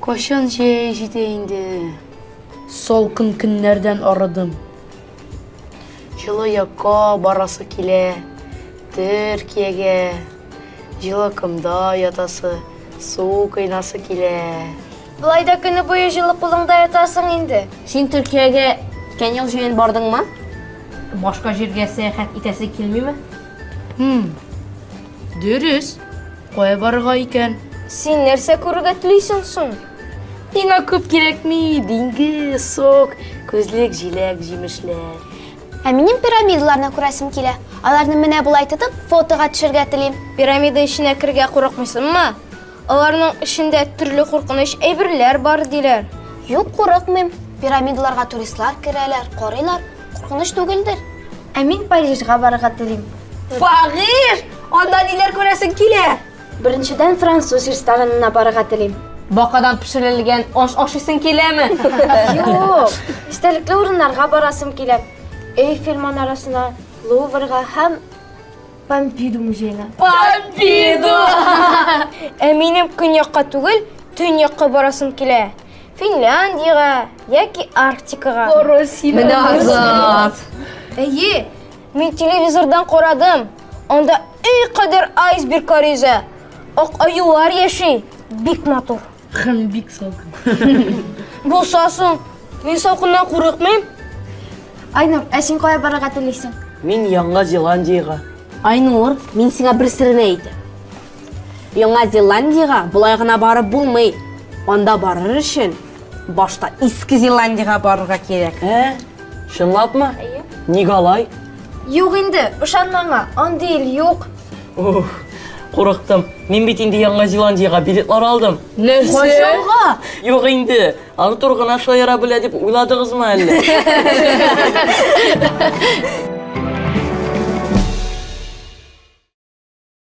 Кашан җәй җитә инде. Салкын көннәрдән арыдым. Җылы якка барасы килә. Төркиягә. Җылы комда ятасы, су кыйнасы килә. Болай да көне буе җылы кулыңда ятасың инде. Син Төркиягә үткән ел җәен бардыңмы? Башка җиргә сәяхәт итәсе килмиме? Хм. Дөрес. Кая барырга икән? Син нәрсә күрергә телисең соң? Миңа күп кирәкми, диңгез, сок, күзлек, җиләк, җимешләр. Ә минем пирамидаларны күрәсем килә. Аларны менә болай тотып, фотога төшергә телим. Пирамида эченә керергә курыкмыйсыңмы? Аларның эчендә төрле куркыныч әйберләр бар, диләр. Юк, курыкмыйм. Пирамидаларга туристлар керәләр, карыйлар. Куркыныч түгелдер. Ә мин Парижга барырга телим. Париж! Анда ниләр күрәсең килә? Беренчедән, француз ресторанына барырга телим. Бакадан пешерелгән аш ашыйсың киләме? Юк! Истәлекле урыннарга барасым килә. Эйфель манарасына, Луврга һәм. Помпиду музеена. Помпиду! Ә минем көньякка түгел, төньякка барасым килә. Финляндиягә яки Арктикага. Менә Азат! Әйе, мин телевизордан карадым. Анда өй кадәр айсберглар йөзә. Ак аюлар яши. Бик матур. Кын бик салкын. Булса соң, мин салкыннан курыкмыйм. Айнур, ә син кая барырга телисең? Мин Яңа Зеландиягә. Айнур, мин сиңа бер серен әйтәм. Яңа Зеландиягә болай гына барып булмый. Анда барыр өчен башта Иске Зеландиягә барырга кирәк. Ә? Чынлапмы? Әйе. Ник алай? Юк инде, ышанма аңа, андый ил юк. Ух, курыктым. Мин бит инде Яңа Зеландиягә билетлар алдым. Нәрсә? Юк инде. Артур гына шаяра белә дип уйладыгызмы әллә?